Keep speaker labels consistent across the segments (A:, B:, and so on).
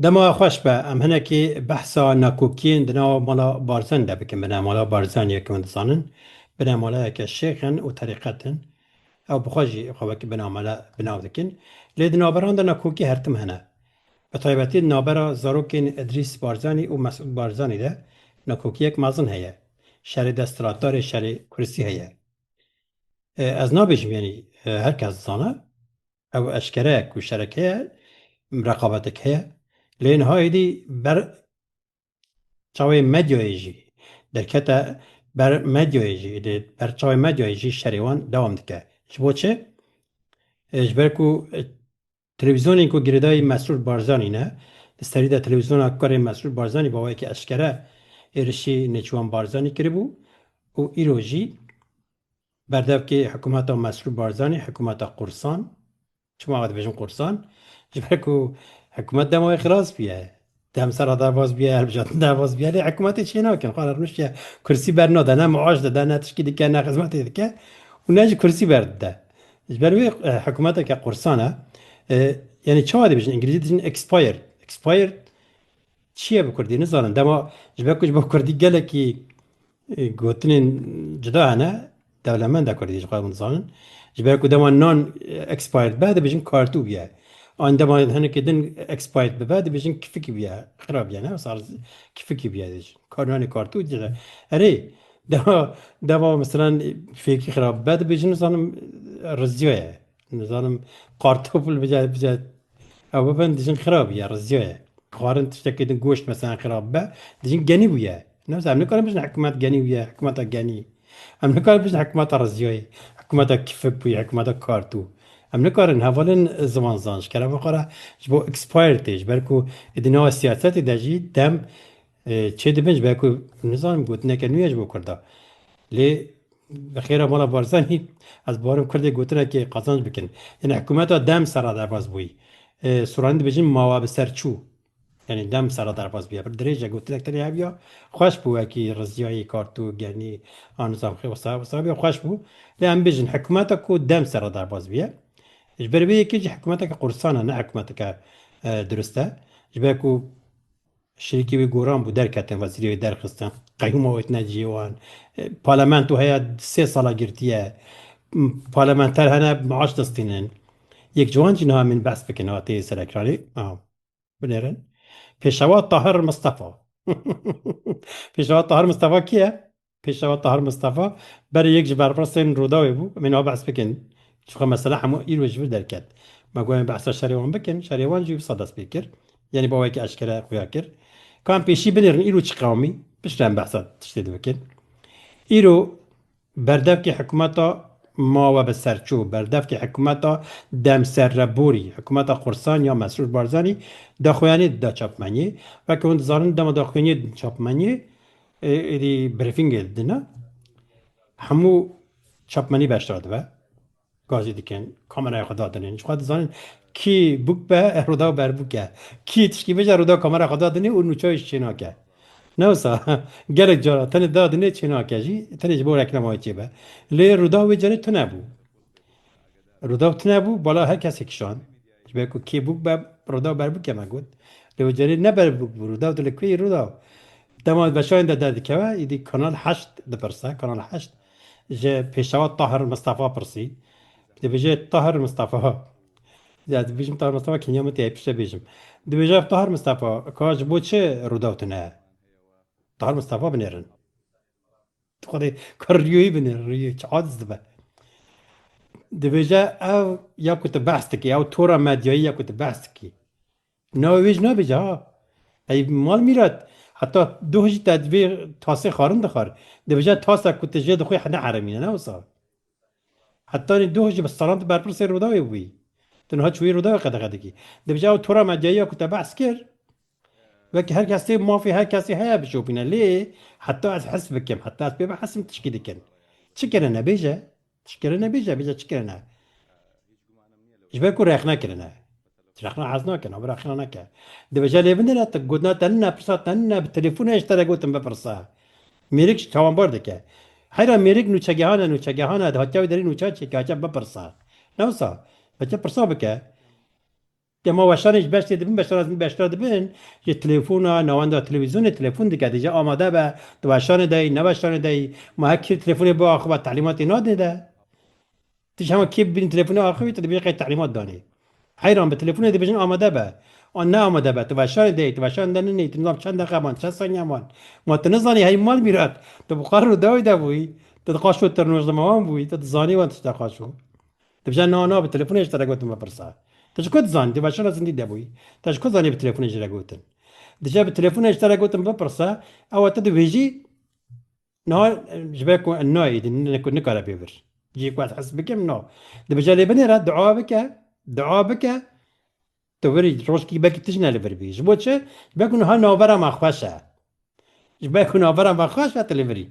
A: Dema xweş be, em hinekî behsa nakokiyên di nava mala Barzanî de bikin. Binemala Barzanî yek hûn dizanin, binemalayeke şêx in û terîqet in. Ew bi xwe jî xwe wekî binamala bi nav dikin. Lê di naberan de nakokî her tim hene. Bi taybetî di navbera zarokên Îdrîs Barzanî û Mesûd Barzanî de nakokiyek mezin heye. Şerê desthilatdarê şerê kuristî heye. Ez nabêjim yanî her kes dizane. ew eşkere ye ku şerek heye, reqabetek heye. Lê niha êdî ber çavê medyayê jî derkete ber medyayê jî êdî ber çavê medyayê jî şerê wan dewam dike. Ji bo çi? Ji ber ku televîzyonên ku girêdayî Mesrûr Barzanî ne, di serî de televîzyona kurê Mesrûr Barzanî bawayekî eşkere êrişî Nêçîrwan Barzanî kiribû û îro jî Berdevkê hikumeta Mesrûr Barzanî hikumeta qursan, çima ew dibêjin qursan? Ji ber ku hikumet dema wê xilas bûye. Dem sera derbas bûye, hilbijartin derbas bûye lê hikumetê çê nakin. Xwe rewşiya kursî bernade, ne miaş dide, ne tişkî dike, ne xizmetê dike û ne jî kursî berdide. Ji ber wê hikumeteke qursan e. Yanî çawa dibêjin? Îngilîzî dijin expired. Expired çi ye bi kurdî? Nizanin. Dema ji ber ku ji bo kurdî gelekî Gotinên cuda hene, dewlemenda Kurdî ji xwe hûn dizanin. Ji ber ku dema nan expired be dibêjin kartû bûye. An dema hinekî din expired bibe dibêjin kifikî bûye, xira bûye ne sal kifikî bûye dibêjin. Kar nanê kartû dije. Erê dema dema misalan fêkî xira bibe dibêjin nizanim riziya ye. Nizanim kartofil bije bije ew bibin dijin xirab ye rizya ye. Xwarin tiştekê din goşt mesela xirab be dijin genî bûye. Newsa em nikarin bijin hikûmet genî bûye hikûmeta genî. Em nikarin bijin hikûmeta rizyayê hikûmeta kifik bûye hikûmeta kartû. Em nikarin hevalên ziman zan ji kerema xwe re ji bo expired tê ji ber ku êdî nava siyasetê de jî dem Çê dibin ji ber ku nizanim gotineke nû ye ji bo Kurda. Lê bi xêra mala Barzanî ez barim Kurdê gotinekê qazanc bikin. Yanî hikûmeta dem serra derbas bûyî. Sûranî dibêjin mawa bi ser çû. Yanî dem serra derbas bûye. Pir dirêj e gotinek tenê hev ya xweş bû wekî Riziyayî, Kartûk, Genî a Nizam Xê wisa wisa ya xweş bû. Lê em bêjin hikûmeta ku dem serra derbas bûye. Ji ber vê yekê jî hikûmeteke qursan e ne hikûmeteke dirust e. Ji ber ku Şerîkê wê goran bû, derketin, wezîrê wê derxistin, qeyûma wê tine cihê wan. Parlamento heye sê sala girtiye. Parlamenter hene maaş destînin. Yek ji wan jî niha min behs bikin hatê ser ekranê. Binêrin. Pêşewa Tahir Mistefa. Pêşewa Tahir Mistefa kê ye? Pêşewa Tahir Mistefa berê yek ji berpirsên Rûdawê bû, em ê niha behs bikin. Çunka mesela hemû îro ji vir derket. Me got em ê behsa şerê wan bikin, şerê wan jî wisa dest pê kir. Yanî bi awayekî eşkere xuya kir. Ka em pêşî binêrin îro çi qewimî, piştre em behsa tiştê dibikin. Îro berdevkê hikûmeta mawe bi serçû, berdevkê hikûmeta demserreborî, hikûmeta qursan ya Mesrûr Barzanî daxuyaniyê dida çapmeniyê. Weke hûn dizanin dema daxuyaniyê didin çapmeniyê, Êdî brîfîngê didine hemû çapmenî beşdar dibe. Gazî dikin, kameraya xwe dadinên jixwe dizanin kî bûk be roda berbûk e. Kî tişkî bije roda kameraya xwe dadinê û nûçeyê jî çênake. Ne wisa gelek cara tenê dadinê çênake jî tenê ji bo reklamaya çêbe. Lê roda wê carê tunebû. Roda tunebû bala her kesê kişand. Ji ber ku kê bûk be Rûdaw berbûkê me got. Lê wê carê ne berbûk bû Rûdaw dilê ku yî Rûdaw dema beşayên de derdikeve îdî Kanal Heşt dipirse. Kanal Heşt ji pêşewa Tahir Mistefa pirsî. Dibêje Tahir Mistefa ya ez dibêjim Tahir Mistefa keniya min tê piştre bêjim. Dibêje Tahir Mistefa ka ji bo çi Rûdaw tune? Tahir Mistefa binêrin. Xwedê ka rîyoyî bine rîyoyî çi adiz dibe. Dibêje ev ya ku tu behs dikî ew tora medyayî ya ku tu behs dikî. Navê wê jî nabêje ha. Ey mal mîrat heta doh jî te vê tasê xwarin dixwar. Dibêje tasa ku tu jê dixwî ne heremîn e ne wisa. Hetanî doh ji bistaran tu berpirsê Rûdawê bûyî. Tu niha çûyî Rûdawê qedexe dikî. Dibêjî ew tora medyayî ya ku te behs kir, wekî her kesê mafê her kesê heye bişopîne lê heta ez his bikim, heta ez pê bihesim tişkî dikin. Çi kirine? Bêje. Tişt kirine bêje, bêje çi kirine? Ji ber ku rexne kirine. Rexna hez nake, navê Rexna neke. Dibêje lê binde ne, gotina te nina, pirsa te nina, bi telefona ji te re gotin bipirse. Mêrik ji tawanbar dike. Heyra mêrik nûçegehan e, nûçegehan e, hatiya wê derî nûçan çêke, hatiya bipirse. Ne wisa? Hatiya pirsa bike. Dema weşanê ji beş tê dibin, beşan ezmî beş tira dibin, ji telefona, navenda televîzyonê telefon dike, dije amade be, tu weşanê de yî, ne weşanê de yî, ma her kî telefona bê axiva, telîmatê nadê de. Ti ji heman kê bibînî telefûnê axivî te dibêjin qey telîmat danê. Heyran be telefûnê dibêjin amade be. An ne amade be, tu weşanê de yê, tu weşanê de ninê, tu nizam çend deqe man, çend saniye man. Ma tu nizanî hey mal mîrat, tu bi xwe rû dawî de bûyî, tu di qaşo tirnoş de ma wan bûyî, tu dizanî wan tişt e qaşo. Dibêje na na bi telefûnê ji te re gotin bipirse. Te ji ku dizanî, tu weşana zindî de bûyî, te ji ku zanî bi telefûnê ji re gotin. Dije bi telefûnê ji te re gotin bipirse, ewa te dibêjî, No, ji ber ku nayê din nikare pê bir. Cî ku ez hes bikim no. Di bicelê binê re dua bike, dua bike tu virî rojkî belkî tu jî ne li vir bî. Ji bo çi? Ji ber ku niha navbera me xweş e. Ji ber ku navbera me xweş e tu li virî.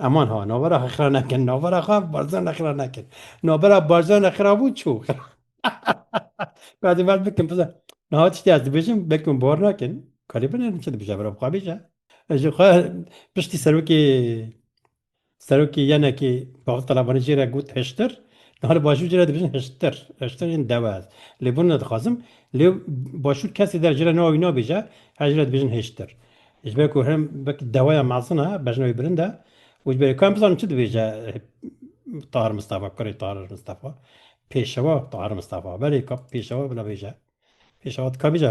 A: Eman ha navbera xwe xira nekin. Navbera xwe Barzan re xira nekin. Navbera Barzan re xira bû çû. Ka divert bikim. Niha tiştê ez dibêjim belkî min bor nakin. Kalê binêrin çi dibêje vera bi xwe bêje. Ez jî xwe piştî serokê serokê yenekê Bavul Talabanî jê re got hiştir. Niha li Başûr jê re dibêjin hiştir. Hiştir yên dewe ez. Lê bûn nedixwazim. Lê Başûr kesê der jê re niha wî nabêje. Her jê re dibêjin hiştir. Ji ber ku hem wek deweya mezin e, bejna wî bilind e û ji ber ku em bizanin çi dibêje Tahir Mistefa, kurê Tahir Mistefa, pêşewa Tahir Mistefa. Belê ka pêşewa bila bêje. Pêşewa dika bêje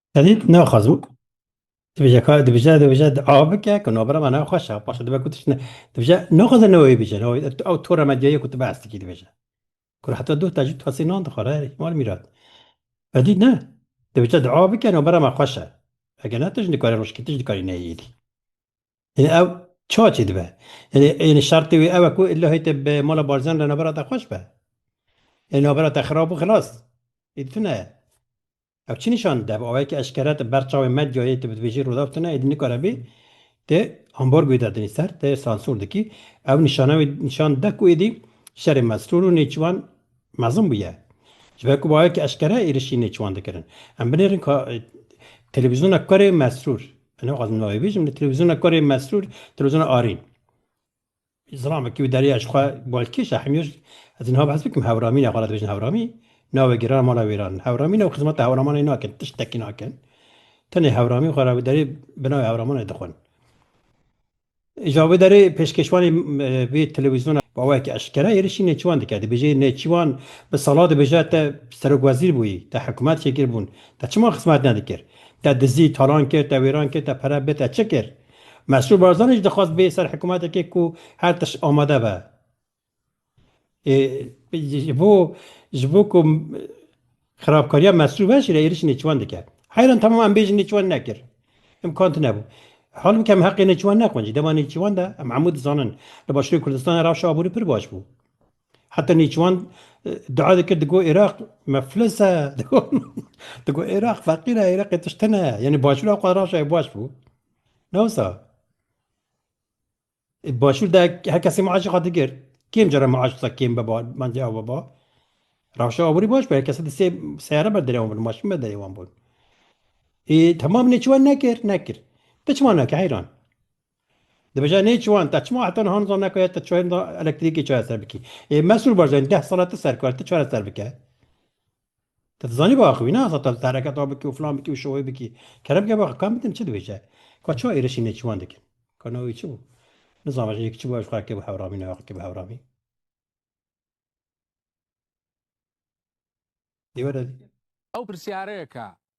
A: Edî tu naxwazim dibêje ka dibêje dibêje a bike ku navbera me naxweş e paşa dibe ku tu ne dibêje naxwaze ne wê bêje ew tora medyayê ku tu behs dikî dibêje ku heta duh te jî tu hesê nan dixwar herî mal mîrat edî ne dibêje di a bike navbera me xweş e eger ne tu jî dikarî rojkê tu jî dikarî neyê êdî yani ew ça çê dibe yani yani şertê wê ew e ku illahê te bi mala barzan re navbera te xweş be yani navbera te xirab û xilas êdî tu ne Ev çi nîşan dide? Ev awayekî eşkere di ber çavên medyayê tu bi divêjî rûdaw tune êdî nikare bî, tu ambargoyê dadinî ser, tu sansûr dikî. Ew nîşana wî nîşan dide ku êdî şerê mesrûr û nêçîvan mezin bûye. Ji ber ku bi awayekî eşkere êrişî nêçîvan dikirin. Em binêrin ka televîzyona kurê mesrûr, ez nixwazim navê bêjim, lê televîzyona kurê mesrûr, televîzyona Arîn. Zilam ki bi deriya ji xwe balkêş e hemî ji ez niha behs bikim hewramîn e xwe re dibêjin hewramî navê giran mala wêran hewramîn e û xizmeta hewramanê nakin tiştekî nakin tenê hewramî xwe re bi derê bi navê hewramanê dixwin. Îja bi derê pêşkêşvanê vê telewîzyona wawayekî eşkere êrişî nêçîwan dike dibêje nêçîwan bi sala dibêje te serokwezîr bûyî te hikûmet şekil bûn te çima xizmet nedikir te dizî talan kir te wêran kir te pere bê te çi kir. Mesrûr Barzanî jî dixwest bê ser hikûmetekê ku her tişt amade be. Ji bo ji bo ku xerabkariya Mesrûr ve jî re êrişî nêçûwan dike. Heyran tamam em bêjin nêçûwan nekir. Îmkan tinebû. Hewl bike em heqê nêçûwan nexwin jî. Dema nêçûwan de em hemû dizanin. Li Başûrê Kurdistanê rewşa aborî pir baş bû. Heta Nêçiwan dua dikir digo Iraq meflis e digo Iraq feqîr e Iraqê tişt tune yanî başûra xwe raşayê baş bû ne wisa başûr de her kesê maaşê xwe digir kêm cara maaş sa kêm beba bence ew beba raşa aborî baş be her kesê di sê seyare ber derê wan bûn maşîn ber derê wan bûn ê temam nêçiwan nekir nekir ti çima nake heyran Dibêje nê çiwan te çima heta niha nizan neke te çayên da elektrîkê çareser bikî. Ê Mesrûr Barzanî deh sala ti serkar ti çareser bike. Te dizanî biaxivî ne heta te li te hereket a bikî û filan bikî û şoyê bikî. Kere bike biaxivî kam bidim çi dibêje. Ka çima êrişî nêçiwan dikin. Ka na wî çi bû. Nizan vajî yek çi bû ev ji xwe re kê bû hewramî ne kê bû hewramî. Dê were. Ew pirsyareyek e.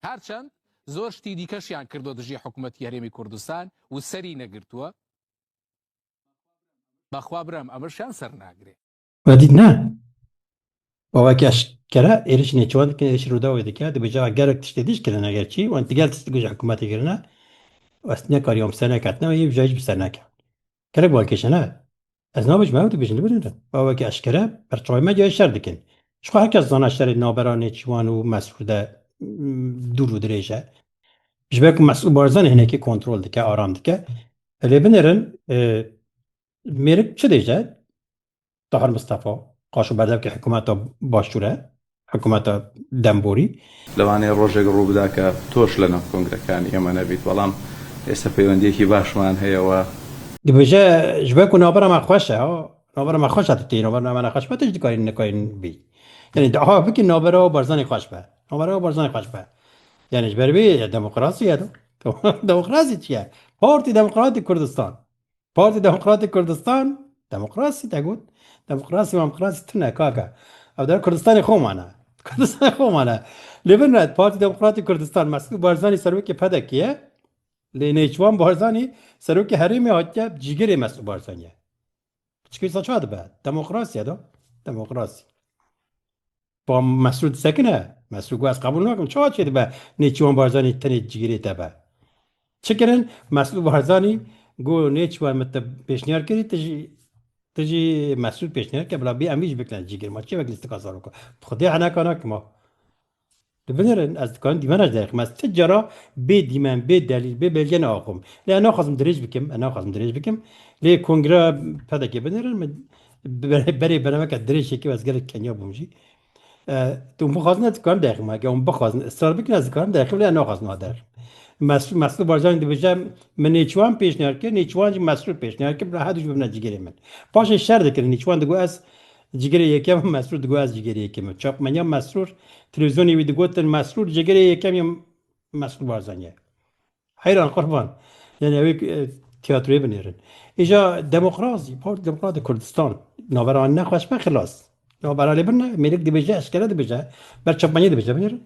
A: Her çend zor ştî dîke jiyan kirdo dijî hikûmetî Herêmî Kurdistan û serî negirtuwe. Bexwa birem emir jiyan ser nagirê. Vedît ne. Baveke eşkera êrişî nêçûwan dikin, êrişî Rûdawê dike, di bicera gelek tiştê dîj kirine eger çî wan digel tişt di gojê hikûmetê kirine, ez nekariye wan bi ser neketine û yê bijayî jî bi ser nekewt. Gelek wan kêşe ne. Ez nabêjim ew dibêjin li vir in. Ew weke eşkere berçavê me cihê şer dikin. Jixwe her kes dizane şerê navbera Nêçîwan û Mesrûr de dûr û dirêj e. Ji ber ku Mesûd Barzanî hinekî kontrol dike, aram dike. Lê binêrin mêrik çi dêje? Tahir Mistefa, qaşo berdevkê hikûmeta başûr e, hikûmeta dem borî. Lewanê rojek rû bida ke toş li nav kongrekanî ême nebît, belam êsta peywendiyekî başman heye we. Dibêje ji ber ku navbera me xweş e, navbera me xweş e tu tê, navbera me nexweş be tu jî dikarî nikarî bî. Yanî tu aha bikî navbera Barzanî xweş be, navbera Barzanî xweş be. Yanî ji ber vê demokrasî ye do. Demokrasî çi ye? Partî Demokratîk Kurdistan. Partî Demokratîk Kurdistan demokrasî te got. Demokrasî mamkrasî tune kaka. Ew dere Kurdistanê xwe mane. Kurdistanê xwe mane. Lê bin re Partî Demokratîk Kurdistan Mesûd Barzanî serokê PDK'ê ye. Lê Nêçivan Barzanî serokê herêmê hatiye cîgirê Mesûd Barzanî ye. Çikê wisa ça dibe? Demokrasî ye do. Demokrasî. Pa Mesrûr disekine? Mesrûr got ez qebûl nakim. Çawa çê dibe Nêçîwan Barzanî tenê cigirê te be? Çi kirin? Mesrûr Barzanî got Nêçîwan min te pêşniyar kirî tu jî tu jî Mesrûr pêşniyar kir bila bê em îş bikin ez cigir ma çê wek lîstika zarok e. Bi xwedê heneka nakim ha. Tu binirin ez dikarim dîmen ez derxim ez ti cara bê dîmen bê delîl bê belge neaxom. Lê ez naxwazim dirêj bikim ez naxwazim dirêj bikim lê kongreya PDK'ê binirin min Berê bereveke dirêjekî ez gelek kenya bûm jî. Tu bixwazin ez dikarim derxim ege hûn bixwazin israr bikin ez dikarim derxim lê naxwazin wa derxim. Mesrû Mesrû Barzanî dibêje min nêçiwan pêşniyar kir nêçiwan jî Mesrû pêşniyar kir bi hedû bibne cigêrê min. Paşê şer dikirin nêçiwan digot ez cigêrê yekem Mesrûr digot ez cigêrê yekem min. Çapmenya Mesrûr televîzyonê wî digotin Mesrûr cigêrê yekem ya Mesrû Barzanî ye. Heyran qurban. Yani ew tiyatroyê binêrin. Îja demokrasî, Partî Demokratîk Kurdistan navbera ne xweş be xilas. Navbera lê bin mêrik dibêje, eşkere dibêje, ber çapmanîyê dibêje binêrin.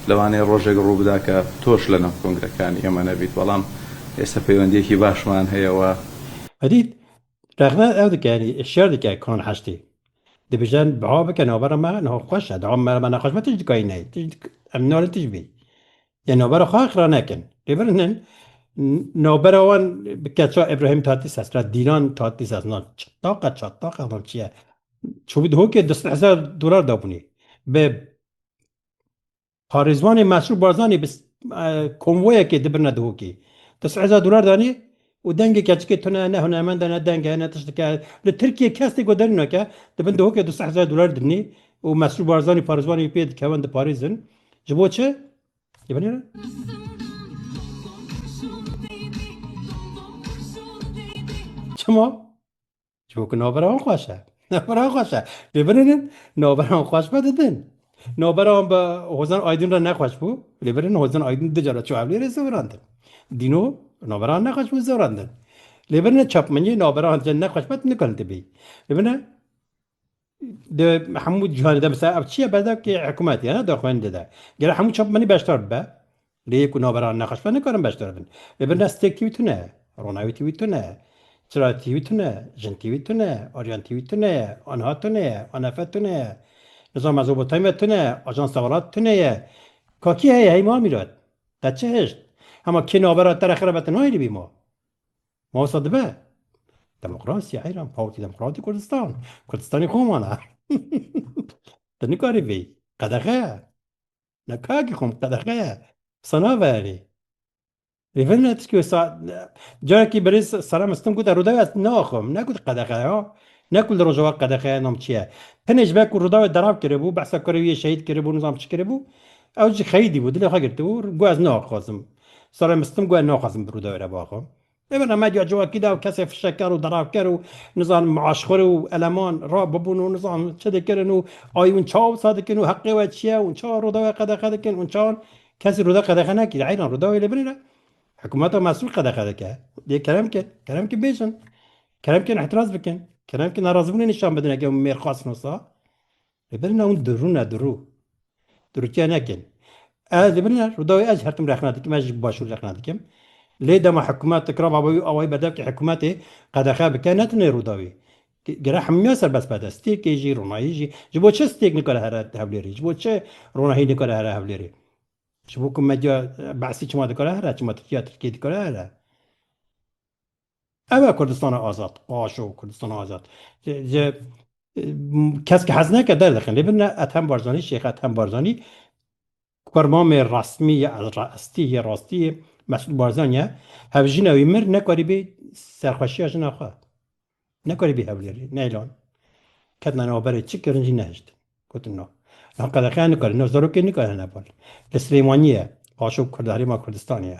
A: Lewanê rojek rû bida ke toş li nav kongrekan ême nebît belam êsta peywendiyekî başman heye we. Edî rexne ew dike yanî şer dike kan heştê. Dibêjen biha bike navbera me niha xweş e. Daa me nexweş be tij dikayî neyê. Tij em nalin tij bî. Yê navbera xwe xira nekin. Lê birinin navbera wan bi keça Îbrahîm Tatlîses re Dîlan Tatlîses na çitaqa çataqa na çi ye? Çûbû di hokê du sed hezar dolar dabûnê. Bi parêzvanê Mesrûr Barzanî bi konvoyekê di birine di hokê. Du sed hezar dolar danê Û dengê keçikê tune ne hunermend e, ne deng e, ne tiştik e. Li Tirkiyê kes tê ku derin nake, di bin dihokê du sed hezar dolar dibînî û Mesrûr Barzanî parêzwan wî pê dikevin diparêzin. Ji bo çi? Dê binêrin. Çima? Ço ku navbera wan xweş e. Navbera wan xweş e. Lê birinin navbera wan xweş be didin. Navbera wan bi Hozan Aydin re nexweş bû. Lê birinin Hozan Aydin du cara çû Hewlêrê zewirandin. Dîno navbera wan nexweş bû zewirandin. Lê birinin çapmeniye navbera wan cen nexweş be tu nikarin tibî. Lê birinin Di hemû cîhanê de mesela ev çi ye berdevkê hikûmetê ye ne di xwendê de. Gere hemû çapmenî beşdar bibe. Lê yek û navbera nexweşber nikarin beşdar bin. Lê birina stêrk tî wî tune, ronawî tî wî tune, çira tî wî tune, jin tî wî tune, aryan tî wî tune ye, anha tune ye, anefe tune ye, nizam Mezopotamya tune ye, ajansa welat tune ye. Ka kî heye hey ma Mîrat? Te çi hişt? Hema kê navbera te re xerab e te nayê li bî ma? Ma wisa dibe. Demokrasiya heyran Partî Demokratî Kurdistan. Kurdistanê xwe man e. Te nikarî vê. Qedexe ye. Na kakî xwe min qedexe ye. Wisa nabe erê. Rê vin ne tişkî wisa carekî berêz Sara Mistin gote Rûdawê ez naxwim. Nekut qedexe ye. Ne ku li Rojava qedexe ye nam çi ye. Tenê ji ber ku Rûdawê derav kiribû, behsa kurê wî yê şehîd kiribû nizam çi kiribû. Ew jî xeyîdî bû, dilê xwe girtibû. Got ez naxwazim. Serê mistim got naxwazim bi Rûdawê re biaxivim. Ê bana medya civakî de kesê fişekar û deravker û nizanim maaşxwir û eleman ra bibûn û nizanim çi dikirin û ayî hûn çawa wisa dikin û heqê we çi ye hûn çawa Rûdawê qedexe dikin hûn çawa Kesî Rûdaw qedexe nekir heyran Rûdawê li binê re hikumeta mesûl qedexe dike. Dê kerem kin. Kerem kin bêjin. Kerem kin îtiraz bikin. Kerem kin nerazîbûnê nîşan bidin eke mêr xwest nosa. Li ber na hûn dirûn ne dirû. Dirûtiya nekin. Ez li ber na Rûdawê ez her tim rexna dikim, ez jî bi başûr rexna dikim. Lê dema hikûmet dikira va wî awayî berdev kir hikûmetê qedexe bike ne tenê Rûdawê. Gere hemûyan serbest be de stêkê jî, ronahî jî. Ji bo çi stêk nikare here Hewlêrê? Ji bo çi ronahî nikare here Hewlêrê? Ji bo ku medya Be'sî çima dikare here, çima Tirkiya Tirkiyê dikare here? Ev e Kurdistana azad, paşo Kurdistana azad. Ji kesk hez neke derdixin. Lê bin Ethem Barzanî, Şêx Ethem Barzanî Kurmamê resmî ye, estî ye, rastî ye, Mesûd Barzanî ye. Hevjina wî mir nekarî bê serxweşiya jina xwe. Nekarî bê hewlêrê, neylan. Ketina nav berê çi kirin jî nehiştin. Gotin no. No qedexe nikare, no zarokê nikare hene bal. Li Silêmaniyê ye, paşo Kurd Herêma Kurdistanê ye.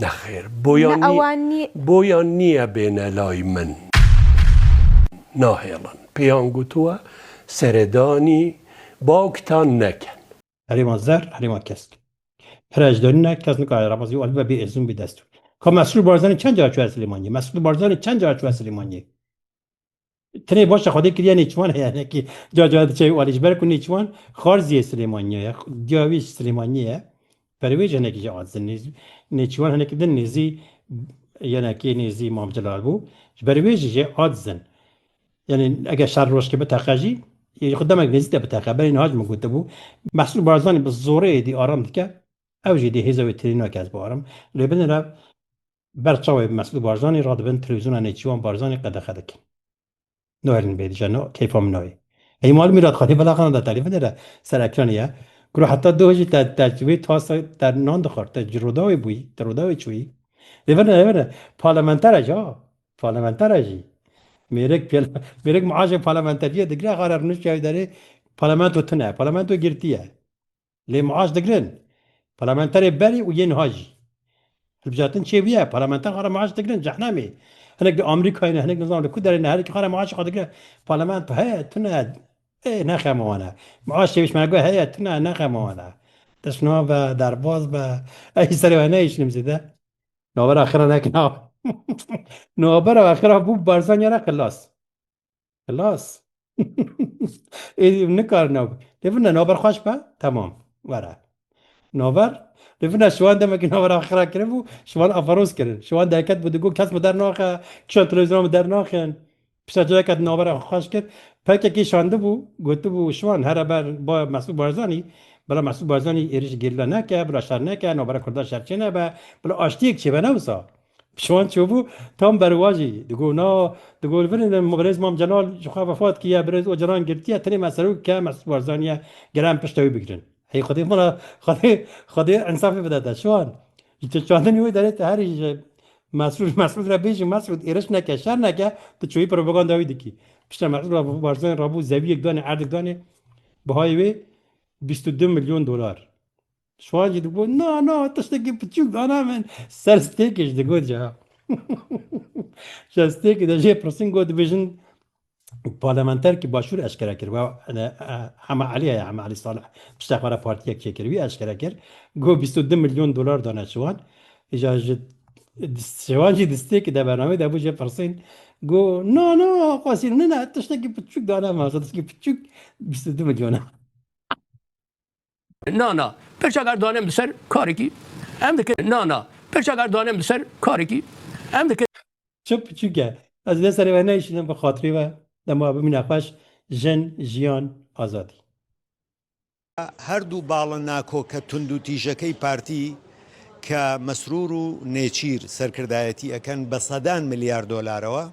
A: Nexêr, boyan nîye bêne lay min. Nahêlin. Pêyan gotuwe seredanî bawktan neken. Herêma zer, herêma kesk. Pere ejderî ne, kes nikare reba zî alibe bê êzin bê dest. Ka Mesrûr Barzanî çend cara çûye Silêmaniyê? Mesrûr Barzanî çend cara çûye Silêmaniyê? Tenê baş e xwedê kiriye nêçiwan heye nekî ca ca diçe alî ji ber ku nêçiwan xarziyê Silêmaniye ye diya wî ji Silêmaniyê ye perwêj hinekî jî a din nêz nêçiwan hinekî din nêzî yenekî nêzî Mam Celal bû ji ber wê jî jê a din yenê eger şer rojkê biteqe jî yê xwe demek nêzî te biteqe berê niha ji min gotibû Mesrûr Barzanî bi zorê êdî aram dike ew jî dê hêza wê tirêna kes bi aram lê binira Ber çavê Mesûd Barzanî radibin telewîzyona Nêçîwan Barzanî qedexe dikin. Noherîn bê dije no keyfa min nayê. Ey malum îrad xwedî bila xana de telî bidere ser ekranî ya. Guro heta doh jî te te wê tasa te nan dixwar te ji roda wê bûyî te roda wê çûyî. Lê vene lê vene parlamentere jî ha parlamentere jî mêrik pêl mêrik miaşê parlamenteriyê digre xare rûniştiya wî derê parlamento tune parlamento girtiye. lê miaş digirin. Parlamenterê berê û yê niha jî. Hilbijartin çê bûye, parlamenter xwe re miaş digirin, cehnemê. Hinek li Amerîkayê ne, hinek nizanim li ku derê ne, herikî xwe re miaşê xwe digire. Parlamento heye, tune, ê ne xema wan e. Miaş çêbî ji me re got heye, tune, ne xema wan e. Destnûha be, derbas be, ez jî serê we nehişinim zêde. Navbera xira ne kena. Navbera xira bû Barzanî re xilas. Xilas. Êdî ev nikarin ew. Lê vina naber xweş be? Temam. Were. Naber? Lê vina şiwan demekî naber axira kiribû, şiwan aferos kirin. Şiwan derket bû digot kes min dernaxe, kişan televîzyona min dernaxin. Pişta cayeke di nabera xwe xweş kir. Pkk şandibû, gotibû şiwan here ber baya Mesûd Barzanî. Bila Mesûd Barzanî êrîş gerîla neke, bila şer neke, nabera kurdan şer çênebe, bila aştiyek çêbe ne wisa. Şiwan çûbû tam berwajî digot na, digot li vinê de birêz Mam Celal ji xwe vefat kiriye, birêz Ocalan girtiye, tenê me Serok ke Mesûd Barzanî ye gere em pişta wî bigirin. Hey xwedê min re xwedê xwedê însafê bide te Şiwan. Ji tu çandinê wê derê tu herî ji Mesûd Mesûd re bêjî Mesûd êriş neke şer neke tu çûyî propaganda wî dikî. Pişta Mesûd Barzanî rabû zewiyek danê erdik danê bihayê wê bîst û du milyon dolar. Şwan jî digot, na na tiştekî piçûk dana min. Ser stêkê jî digot ca. Şer stêkê de jê pirsin got dibêjin parlamenterkî başûr eşkere kir. We Hema Elî heye Hema Elî Salih pişta xwe re partiyek çêkir. Wî eşkere kir got bîst û du milyon dolar dane şiwan. Îja ji şiwan jî di stêkê de bernameyê de bû jê pirsîn got na na xwesîn nina tiştekî piçûk dana min tiştekî piçûk bîst û du milyon e. Na na, pirçakar danem di ser karekî em dikin na na, pirçakar danem di ser karekî em dikin. Çi piçûk e. Ez lê serê we neyşînim bi xatirê we dema bimîne xweş, jin, jiyan, azadî. Her du bala nakoka tundûtîjekey partî ke Mesrûr û Nêçîr serkirdayetî ekin bi sedan milyar dolarewa,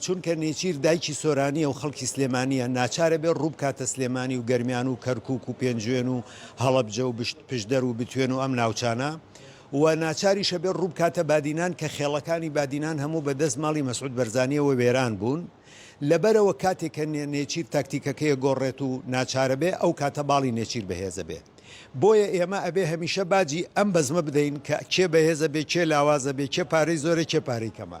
A: Çunke Nêçîr dayikî Soranî ye û xelkî Silêmanî ye. Naçare bê rû bikate Silêmanî û Germîyan û Kerkûk û Pêncûên û Helebce û Piştder û Bitwên û em navçana. We naçar îşe bê rû bikate Badînan ke xêlekanî Badînan hemû bi dest malî Mesûd Berzanîyewê wêran bûn. Li berewe katê ke Nêçîr taktîkeke yê gorrêt û naçare bê ew kate balî Nêçîr bi hêze bê. Boye ême ebê hemîşe bacî em bezme bideyîn ke kê behêze bê, kê lawaze bê, kê parey zor e, kê parey kema.